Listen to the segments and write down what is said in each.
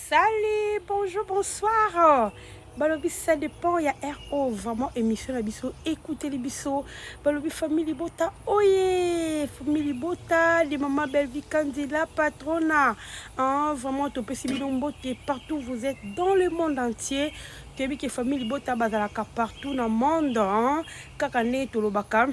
Salut, bonjour, bonsoir. balobi ça dépend ya ro vraiment émission na biso ekuteli biso balobi famille libota oye famille libota de mama belvi kandi la patrona hein, vraiment topesi bino mbote partout vous êtes dans le monde entier toyebi ke famille libota bazalaka partout na monde hein, kaka nde tolobaka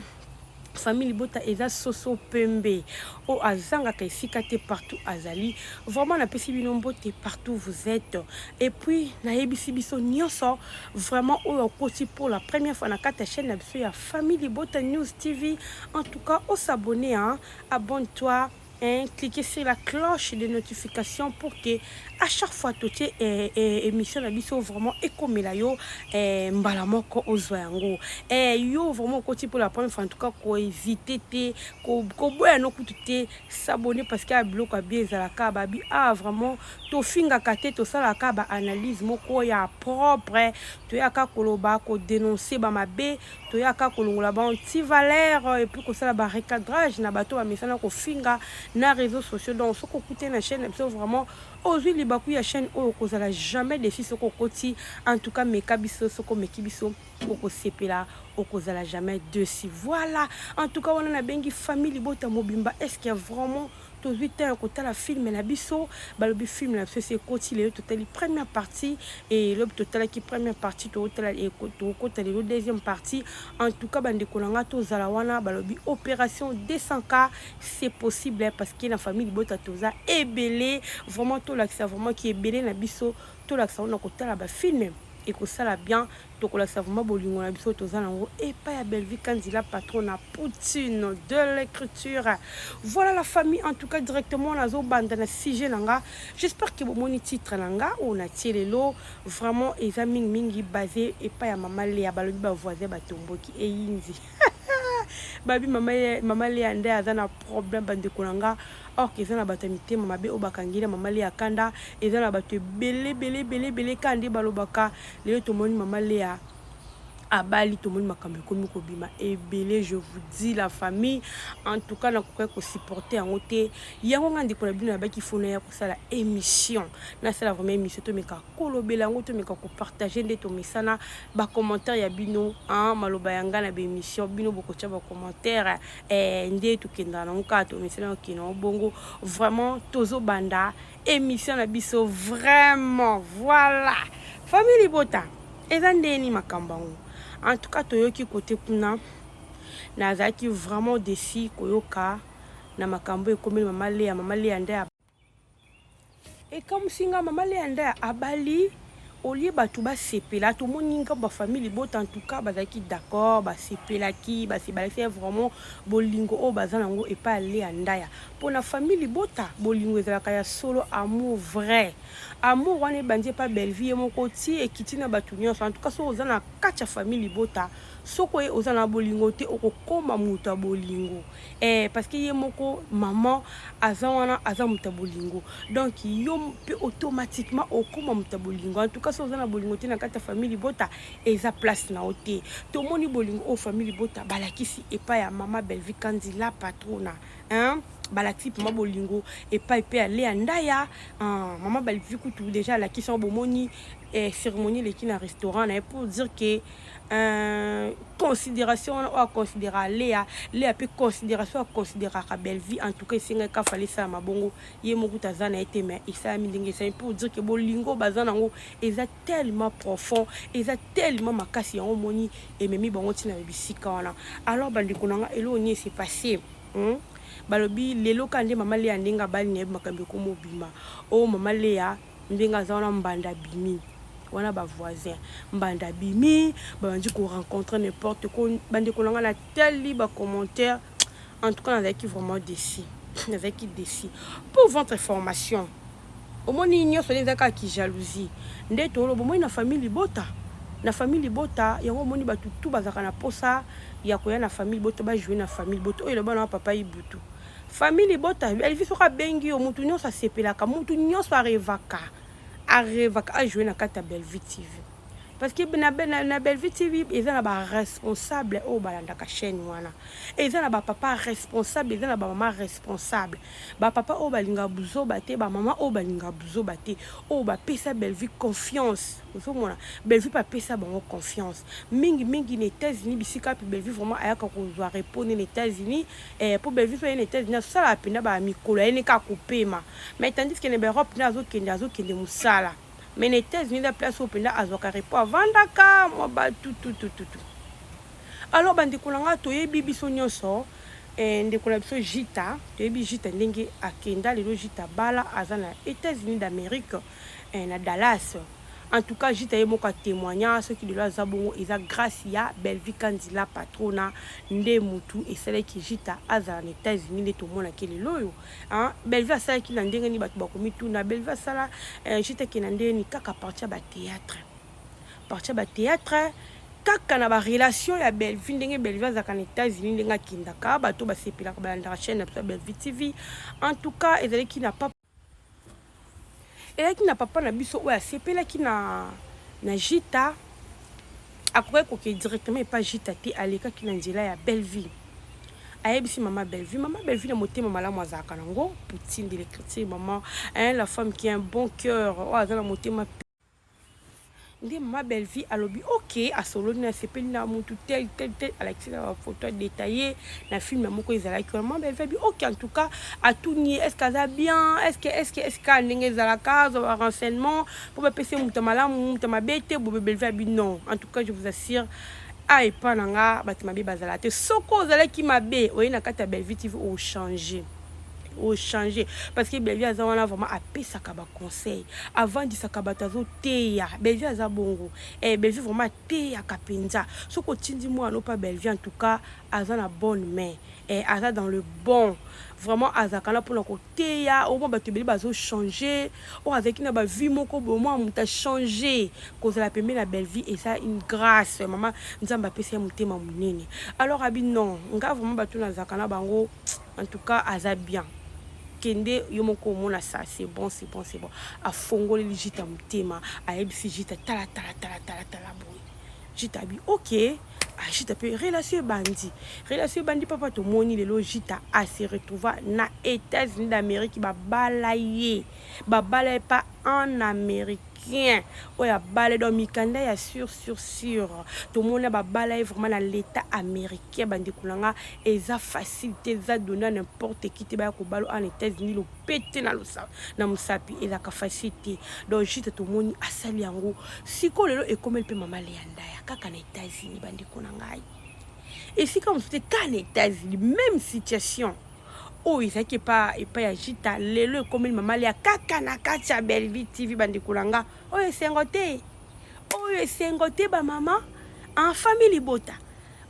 famille libota eza soso pembe oyo azangaka esika te partout azali vraiment napesi bino mbote partout vous êtes et puis nayebisi biso nyonso vraiment oyo akoti pour la première fois na kati ya chaîne na biso ya famille libota news tv en tout cas osabonne a abonne toi Hein, cliquez sur la cloche de notification pour que à chaque fois totie eh, eh, émission na biso vraiment ekomela yo eh, mbala moko ozwa yango eh, yo vraiment okoti pour la première fois en tout cas koevite te koboya no kutu te s'abonner parce que biloko ya bien ezalaka babi ah vraiment tofingaka te tosalaka baanalyse moko ya propre toyaka koloba kodénonce bamabe toyaka kolongola ba anti valeur euh, epuis kosala ba recadrage na bato bamesana kofinga na réseaux sociaux donc soki okute na chaîne na biso vraiment ozwi libaku ya chaîne oyo okozala jamais déçu soki okoti en tout cas meka biso soki omeki biso okosepela okozala jamais déçu voilà en tout cas wana nabengi famille libota mobimba est ce que vraiment Tozui temps ya kotala film na biso balobi film na biso esi ekoti lelo totali première partie et lobi totalaki première partie tokotala tokokota lelo deuxième partie en tout cas bandeko na ngai tozala wana balobi opération 200k c'est possible parce que na famille libota toza ebele vraiment tolakisa vraiment ki ebele na biso tolakisa wana kotala bafilme ekosala bien Tokolakisa vraiment bolingo na biso toza nango epa ya Bellevue Kandy la patron na Poutine de l'écriture. Voilà la famille en tout cas directement nazo banda na sujet nanga. J'espère que bomoni titre nanga ou na tielelo vraiment eza mingi mingi basé epa ya mama Lea balobi ba voisin ba tomboki e yindi. babi mama ye mama Lea nde aza na problème bandeko na nga or eza na bato ya mitema mabe oyo bakangeli ya mama Lea kanda eza na bato ebele ebele ebele ebele kanda nde balobaka Lelo tomoni maman Lea abali tomoni makambo ekomi kobima ebele je vous dis la famille en tout cas nakokai kosupporte yango te yango ngai ndeko na bino nabaki fona ya kosala émission nasala vraiment émission tomeka kolobela yango tomeka kopartage nde tomesana bacommentaire ya bino a maloba ya ngai na baémission bino bokotya bacommentaire eh, nde tokendaka nango kaka tomesana okenda yango bongo vraiment tozobanda emission na biso vraiment voilà famille libota eza ndeni makambo yango en tout cas toyoki kote kuna nazalaki vraiment desi koyoka na makambo ekomeli mama leya mama leya nde ekamwisi nga mama leya nde abali au lieu batu basepela tomoni nga ba famille libota en tout cas bazalaki d'accord basepelaki basebalaki vraiment bolingo oyo baza nango epa ya Lea Ndaya mpo na famille libota bolingo ezalaka ya solo amour vrai amour wana ebandi epa Bellevue ye moko ti ekiti na bato nyonso en tout cas soki oza na kati ya famille libota soki oye oza na bolingo te okokoma moto ya bolingo eh, parce que ye moko maman aza wana aza moto ya bolingo donc yo mpe automatiquement okoma moto ya bolingo en tout cas so oza na bolingo te na kati ya famille libota eza place na yo te tomoni bolingo oyo famille libota balakisi epai ya mama bellevue kanzi la patrona hein? balakisi mpenza bolingo epai mpe ya lea ndaya ah, mama bellevue kutu deja alakisi yango bomoni eh, cérémonie eleki na restaurant na ye pour dire que Euh, considération wana oyo aconsidéraka lea lea mpe considération aconsidéraka bellevie en tout cas esengaki kafala esalama bongo ye moko kuta aza na ye te mais esalami ndenge esalami mpo dire ke bolingo baza na yango eza tellement profond eza tellement makasi yango omoni ememi bango ntina na bisika wana alors bandeko na nga eloko nini ese passe hmm? balobi lelo kaka nde mama lea ndenge abali na ye makambo ekomobima o oh, mama lea Ndenge aza wana mbanda abimi wana ba voisin mbanda abimi babandi ko rencontre n'importe ko bandeko na ngai natali ba commentaire en tout cas nazalaki vraiment déçu nazalaki déçu pour votre information omoni nyonso nde ezalaka ki jalousie nde tolo bomoni na famille libota na famille libota yango omoni bato tu bazalaka na mposa ya koya na famille libota bajoue na famille libota oyo elobana wa papa ibutu Famille libota Elvis soki abengi yo mutu nyonso asepelaka mutu nyonso arevaka arevaka ajoue na kati ya Bellevue TV parce que na, na, na Bellevue TV eza na ba responsable oyo balandaka chaîne wana eza na ba papa responsable eza na ba mama responsable ba papa oyo balinga buzoba te ba mama oyo balinga buzoba te oyo bapesa Bellevue confiance ozomona Bellevue mpe apesa bango confiance mingi mingi na États-Unis bisika mpe Bellevue vraiment ayaka kozwa repos ne na États-Unis Eh po Bellevue pe ye na etats unis azo sala penda ba mikolo aye ne kaka ko pema mais tandis que na ba Europe nde azo kende azo kende musala mais na etats unis eza place oyo penda azwaka repos avandaka mwa batu tutututu alors ba ndeko na nga toyebi biso nionso eh, ndeko na biso Jita toyebi Jita ndenge akenda lelo Jita bala aza na etats unis d'amerique eh, na Dallas en tout cas jita ye moko a témoigna soki lelo aza bongo eza grâce ya Bellevue Kandi la patrona nde mutu esalaki jita azala na États-Unis nde tomonaki lelo oyo hein Bellevue asalaki na ndenge nini bato bakomituna Bellevue asala eh, jita ke na ndenge nini kaka partie ya ba théâtre partie ya ba théâtre kaka na barelation ya bellevue ndenge bellevue azalaka na états-unis ndenge akendaka bato basepelaka balandaka chaîne na biso ya bellevue tv en tout cas ezalaki na papa Eyaki na papa na biso oyo asepelaki na na Jita akokaki kokende directement epa Jita te alekaki na nzela ya Bellevue ayebisi mama Bellevue mama Bellevue na motema malamu azalaka nango poutine de l'écriture maman hein la femme qui a un bon cœur oyo aza na motema nde mama bellevie alobi ok asololi na sepeli na mutu tel tel tel alakisi na bafoto adetaille na filme moko ezalaki wana mama bellevie abi ok en tout cas atuni ye estce aza bien estce estce estce kaka ndenge ezalaka azwa ba renseignement mpo bapesi ye moto malamu moto mabe te bobe bellevie abi non en tout cas je vous assure a epa na nga bato mabe bazala te soki ozalaki mabe oye na kati ya bellevie tv ochange oh, ochange parce que bellevie aza wana vraiment apesaka baconseil avandisaka bato azoteya bellevie aza bongo eh, bellevie vraiment ateyaka mpenza soki otindi mwana opa bellevie en tout cas aza na bonne main eh, aza dans le bon vraiment azalaka na mpona koteya omwa bato ebele bazochange oyo azalaki na bavie moko boye mwa moto achange kozala pembe na bellevie eza une grâce mama nzambe apesa ye motema monene alors abi non ngai vraiment bato nazalaka na bango En tout cas aza bien kende yo moko omona sa c'est bon c'est bon c'est bon afongoleli jita motema ayebisi jita tala tala tala tala tala boye jita abi ok ah, jita mpe relation ebandi relation ebandi papa tomoni lelo jita ase retrouva na états-unis d'amérique babala ye babala ye pa en amérique bien oyo abala donc mikanda ya sur sur sur tomona babala ye vraiment na l'état américain Kkie ba ndeko na nga eza facile te eza donne à n'importe qui te baya kobalo en Etats-Unis lopete na losa na musapi ezaka facile te donc juste tomoni asali yango siko lelo ekomeli pe mama Leanda ya kaka na Etats-Unis ba ndeko na ngai esika mosusu te kaka na Etats-Unis même situation oyo ezalaki epa epa ya jita lelo ekomeli mama Lea kaka na kati ya Bellevue TV ba ndeko na nga oyo esengo te oyo esengo te ba mama en famille libota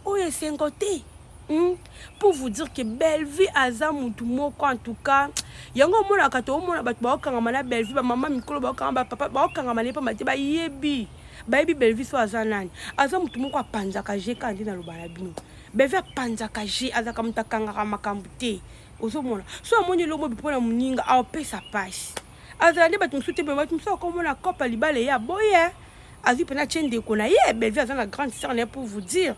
Oyo esengo te. Hmm? Pour vous dire que Bellevue aza mutu moko en tout cas yango omonaka toomona bato baokangama na Bellevue bamama mikolo baokangama bapapa baokangama na ye mpamba te bayebi bayebi Bellevue so aza nani aza mutu moko apanzaka je kaka nde naloba na bino Bellevue apanzaka je azalaka moto akangaka makambo te ozomona so amoni elongo bipo na moninga aopesa pasi azala nde bato mosusu te bamati mosusu akomona kopa libala eye aboye azwi mpena tie ndeko na ye bellevue aza na grande sœur na ye pour vous dire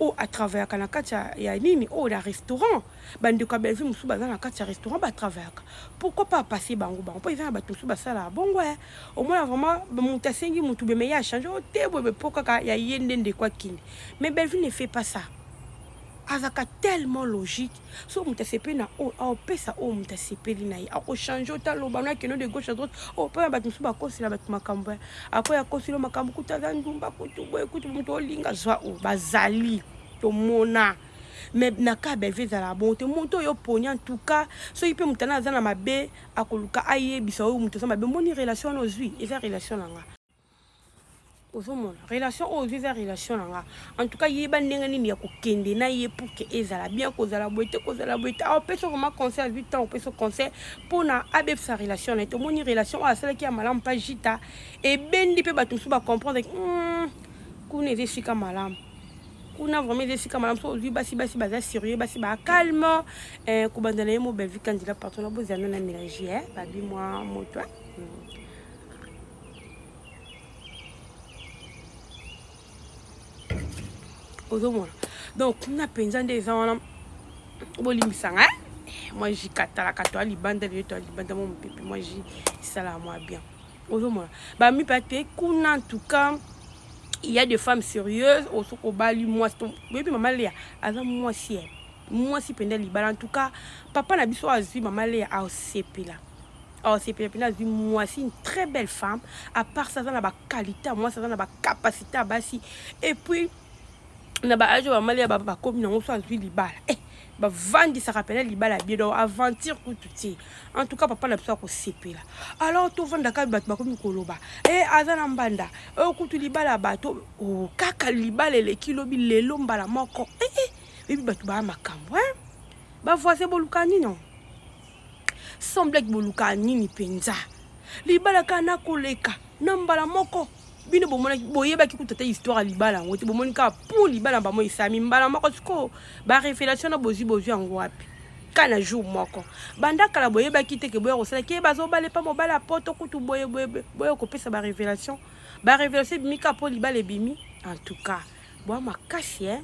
oyo atravayaka na kati ya nini oyo na restaurant bandeko ya bellevue mosusu baza na kati ya restaurant batravayaka pourquoi pas apase bango bango mpo eza na bato mosusu basalaka bongo e omona vraiment moto asengi motu beme ye achange o te boye mpo kaka ya ye nde ndeko akende mais bellevue ne fait pas ça azalaka tellement logique soki moto asepeli na oyo aopesa oyo moto asepeli na ye akochange ota loba na keno de gauche à droite oyo oh, mpo ya bato mosusu bakosela bato makambo apo ya kosilo makambo kutu aza ndumba kutu boye kutu moto olinga zwa oyo oh, bazali tomona mais na ka belve ezala bon te moto oyo oponi en tout cas soki mpe moto ana aza na mabe akoluka ayebisa oyo moto aza mabe omoni relation wana ozwi eza relation na nga ozomona relation oyo ozwi eza relation na nga en tout cas yeba ndenge nini ya kokende na ye pour que ezala bien kozala boye te kozala boye te aopesa ah, vraimen conseil azwi ntango opesa conseil mpo na abebisa relation na ye tomoni relation oyo asalaki ya malamu mpa jita ebendi mpe bato mosusu bacomprendre hmm, kuna eza esika malamu kuna vraiment eza esika malamu soki ozwi basi basi baza sérieux basi ba calme eh, kobanda na ye mo bellevue kandila parton na bozala na mélange eh, babi mwa moto eh. hmm. ozomona donc kuna mpenza nde eza wana bolimbisanga eh? mwa ji katalaka to alibanda lelo to alibanda mwa mopepe mwa ji esalaka mwa bien ozomona bamipa te kuna ntuka il y a des femmes sérieuses osoki obali mwasi oyebi mama lea aza mwasi ye mwasi mpenza libala en tout cas papa na biso azwi mama lea asepela awa sepela mpena azwi mwasi une très belle femme à part ça aza na bakalite ya mwasi aza na bacapacité ya basi et puis na baage oyo bamali ya bakomi nango so azwi libala eh, bavandisaka mpena libala bie donc aventure kutu te en tout cas papa na biso akosepela alors tovandaka bato bakomi koloba e eh, aza na mbanda oyo eh, kutu libala ya bato oh, kaka libala eleki lobi lelo mbala moko ee eh, eh. oyebi bato baya makambo e bavoisin boluka nino Sans blague boluka nini penza? Libala kaka na koleka na mbala moko. Bino bomonaki boyebaki kutu ata histoire ya libala yango te bomoni kaka pour libala bamo esami mbala moko sikoyo ba révélation na bozwi bozwi yango wapi? kaka na jour moko banda kala boyebaki te ke boya kosala ke bazobala epa mobali ya poto kutu boye boye boye kopesa barévélation barévélation ebimi kaka mpo libala ebimi en tout cas boa makasi eh?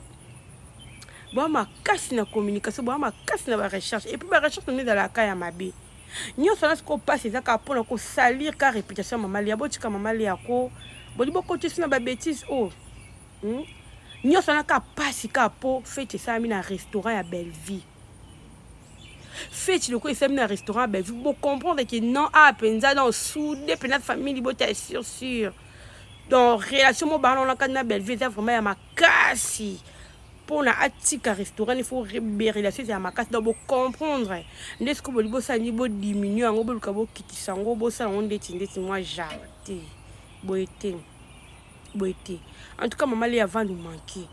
boa makasi na communication boa makasi na barecherche epuis barecherche nano ezalaka ya mabe nyonso wana sikoyo mpasi eza kaka mpona kosalir ka réputation ya mama lia botika mama lia ko bodi bokotisi na babétise oyo oh. hmm? nyonso wana kaka mpasi kaka mpo fete esalami na restaurant ya bellevie feti lokola esalami na restaurant bellevue bocomprendre ke non awa ah, mpenza donc soude mpenza famille libota ya sur sur donc relation mo bana wana kati na bellevue eza vraiment ya makasi mpona atika restaurant il faut relation ezala makasi donc bocomprendre nde sikoyo bolingi bosala nini bodiminue yango boluka bokitisa yango bosala yango ndeti ndeti mwa jardin boye te boye te en tout cas mama le avant nous manquer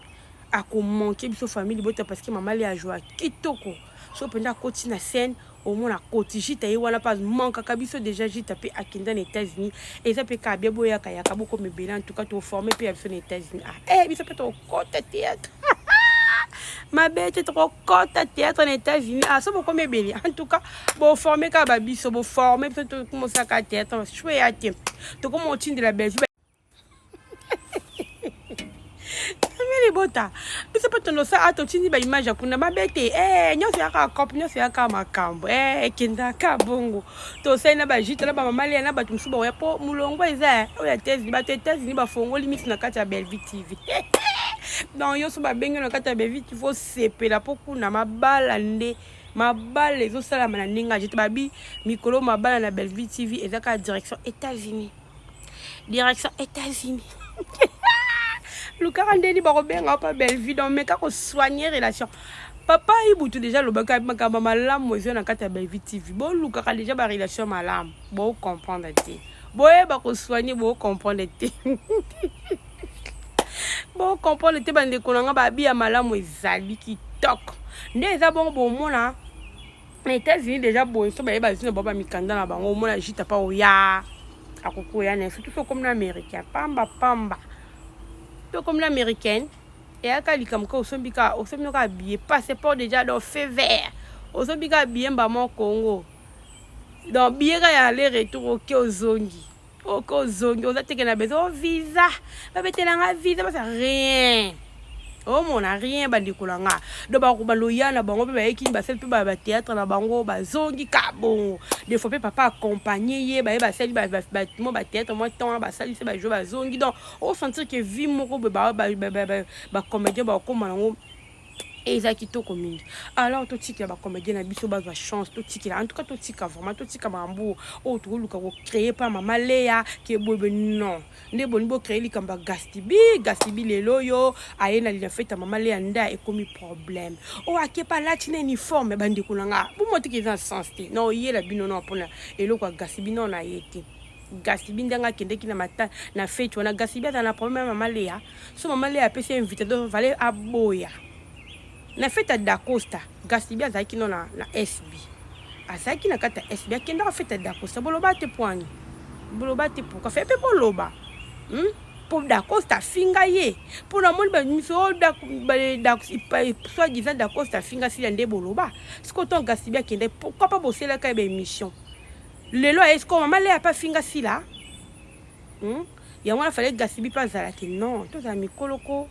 ako manquer biso famille libota parce que mama le a joie kitoko so penda akoti na scène omona akoti jita ye wana mpe mankaka biso déjà jita mpe akenda na états-unis eza mpe kaka bia boyaka yaka bokoma ebele en tout cas toforme mpe ya biso na états-unis ah eh biso mpe tokokota théâtre mabe te tokokota théâtre na états-unis ah so bokoma ebele en tout cas boforme kaka babiso boforme biso tokomosaka théâtre choe ya te tokoma otindela belgique libota biso mpe tondosa a totindi baimage ya kuna mabe te eh, nyonso yaka cope nyonso yaka makambo eh, ekendaka bongo tosali na bajite na bamamalia na bato mosusu baoya mpo molongo eza oyo ya tesi bato etesini bafongoli miso na kati ya belvie tv donc nyonso babengi na kati ya belvie tv osepela mpo kuna mabala nde mabala ezosalama na ndenge aje te babi mikolo mabala na belvie tv eza kaka direction états-unis direction États-Unis lukaka ndeni bakobenga yo mpa bellevue donc meka kosoigne relation papa ibutu deja alobaka makambo malamu ezwa na kati ya bellevue tv bolukaka deja barelation malamu bocomprendre te boyeba kosoigne bocomprendre te bocomprendre te bandeko na ngai babi ya malamu ezali kitoko nde eza bongo bomona na États-Unis deja boye so baye bazwi na bango bamikanda na bango omona jita mpa oya akokoya na surtout so okomi na américain pamba pamba mpe okomi na américaine eyaka likambo kaka osombi kaka osombi no kaka biye passeport deja do feu vert osombi kaka biye mbama congo donc biye kaka ya aller retour oke ozongi oke ozongi oza teke na bezo oh, visa babetela nga visa basa rien omona rien bandeko na nga do baloya na bango mpe bayekini basali mpe bateatre na bango bazongi ka bongo de fois mpe papa accompagne ye baye basali mwa bateatre mwa temps wana basalisi bajo bazongi donc osentir ke vie moko boye bacomédien bakokoma nango et eza kitoko mingi alors totikela ba comédien na biso bazwa chance totikela en tout cas totika vraiment totika makambo oyo tokoluka kocreye mpa mama leya ke boyebe non nde boni bocreye likambo ya gastibi gastibi lelo oyo aye na linafete ya mama leya nda ekomi problème oyo akepa alati na uniforme bandeko na nga bomotiki eza na sens te na oyela bino no mpona eloko ya gastibi no na ye te gasibi ndenge akendeki na mata na feti wana gasibi azala na problème ya mama leya so mama leya apesi invité do vale aboya na feti ya dacosta gasibi azalaki no na, na sb azalaki na kati ya sb akendaka feti ya dacosta boloba te poani boloba te pourkua fe mpe boloba hmm? mpo dacosta afinga ye mpo namoni bamiso oh, soit disant dacosta afinga sila nde boloba sikoyo ntango gasibi akendaki pourkui mpa boselaka ye baémission lelo aye sikoyo mama lea mpe afinga sila hmm? yango wana fale gasibi mpe azala te non tozala mikoloko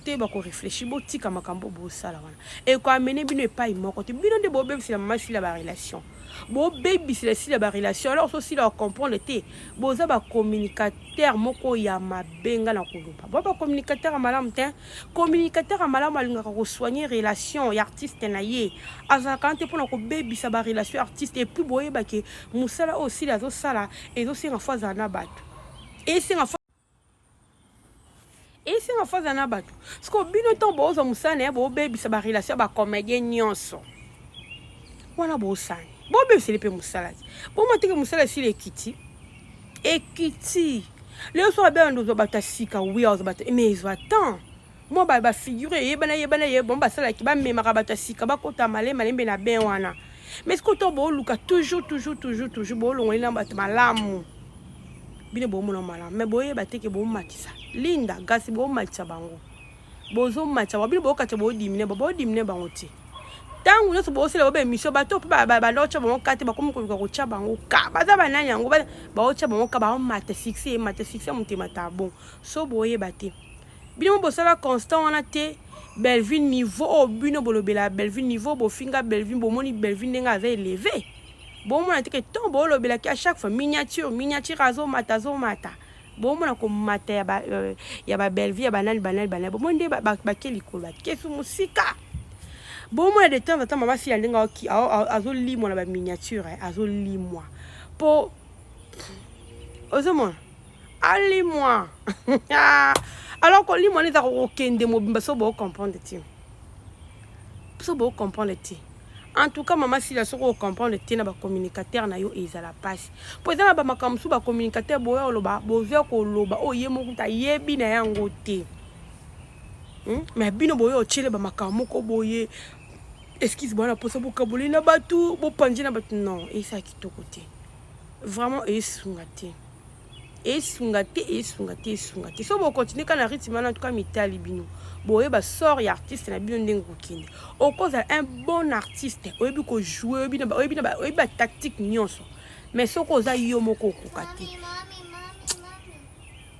te bakoreflechi botika makambo bosala wana ekoamene bino epai moko te bino nde bobebisela mama sila barelation bobebisela sila barelation alors so sila ocomprendre te boza bacommunicateur moko ya mabe nga na koloba bo bacommunicateur ya malamu te Communicateur ya malamu alingaka ko soigner relation ya artiste na ye. Azalaka wana te mpo na kobebisa ba relation ya artiste et puis boyeba ke mosala oyo Sila azosala ezosenga fo azala na bato. Esenga fo esenga fo azala na bato. Sikoyo bino ntango boozwa mosala na ye bobebisa ba relation ya ba comedien nyonso. Wana bosani. Bobebiseli mpe mosala te. Bomoteke mosala esili ekiti. ekiti lelo so babela nde ozwa bato ya sika wi ozwa bato mais ezwa temps mwa ba bafigure eyebana eyebana ye bango basalaki bamemaka bato ya sika bakota male malembe na ben wana mais sikoyo ntango booluka toujours toujours toujours toujours boolongoli na bato malamu bino boomona malamu mais boyeba te ke boomatisa linda gasi boomatisa bango bozo matcha ba bino bo katcha bo dimine ba bo dimine bango ti tangu nyoso bo sele ba emission ba to ba ba lo cha bango kate ba komi ko ko cha bango ka ba za ba nani yango ba ba cha bango ka ba mate succès mate succès mutema ta bon so bo ye ba te bino bo sala constant wana te Bellevue niveau oyo bino bolobela Bellevue niveau bofinga Bellevue bomoni Bellevue ndenge aza eleve bomona te ke ntongo bolobelaki à chaque fois miniature miniature azomata azomata bomona komata ya ba euh, ya ba Bellevue ya banani banani banani bomoni nde bake likolo bakesu mosika bomona de temps en temps mama sila ndenge azolimwa na ba miniature eh, azolimwa mpo ozomona alimwa alors kolimwa nde eza kokende mobimba so bocomprendre te so bocomprendre te En tout cas, maman Sila, ce qu'on comprend, le tien ba communicateur na yo ils à la passe. Pour ça, ba makamsu ba communicateur boya oloba, bozo ko loba, oh ye moko ta yebi na yango te. Hmm? Mais bino boya ochele ba makamu ko boye. Excuse moi, pour ça bo kaboli na batu, bo panji na batu non, et ça qui to côté. Vraiment et sungate. esunga te esunga te esunga te so bokontinue kaka na rythme wana tuka mitali bino boyeba sort ya artiste na bino ndenge kokende okozala un bon artiste oyebi kojoue oyebi batactique nyonso mais soki oza yo moko okoka te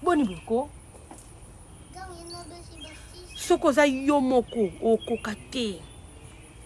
boni boko soki oza yo moko okoka te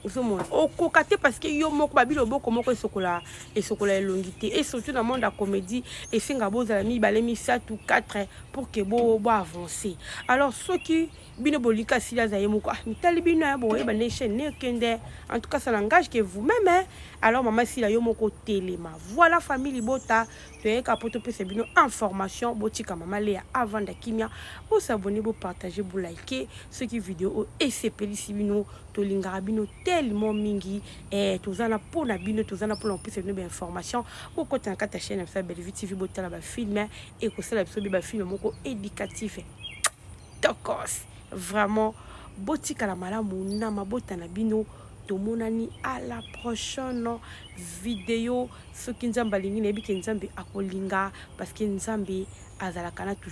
ozomona okoka te parce que yo moko babili oboko moko esokola esokola elongi te et surtout na monde ya comédie esenga bozala mibale misato 4 pour que bo bo avancer alors soki bino bolika sili aza ye moko ah mitali bino ya boyeba nde chaîne nekende en tout cas ça n'engage que vous-même hein? alors mama sila yo moko telema voilà famille libota toyeka po topesa bino information botika mama leya avanda kimia bosabone bopartage bolike soki video oyo esepelisi bino tolingaka bino tellement mingi eh, toza na mpo na bino toza na mpo na kopesa bino bainformation bokota na kati ya chaine ya biso ya bellevue tv botala bafilme ekosala biso be bafilme moko éducatif tokos vraiment botikala malamu na mabota na bino tomonani à la prochaine video Soki nzambe alingi nayebi ke nzambe akolinga parce que nzambe azalaka na toujours.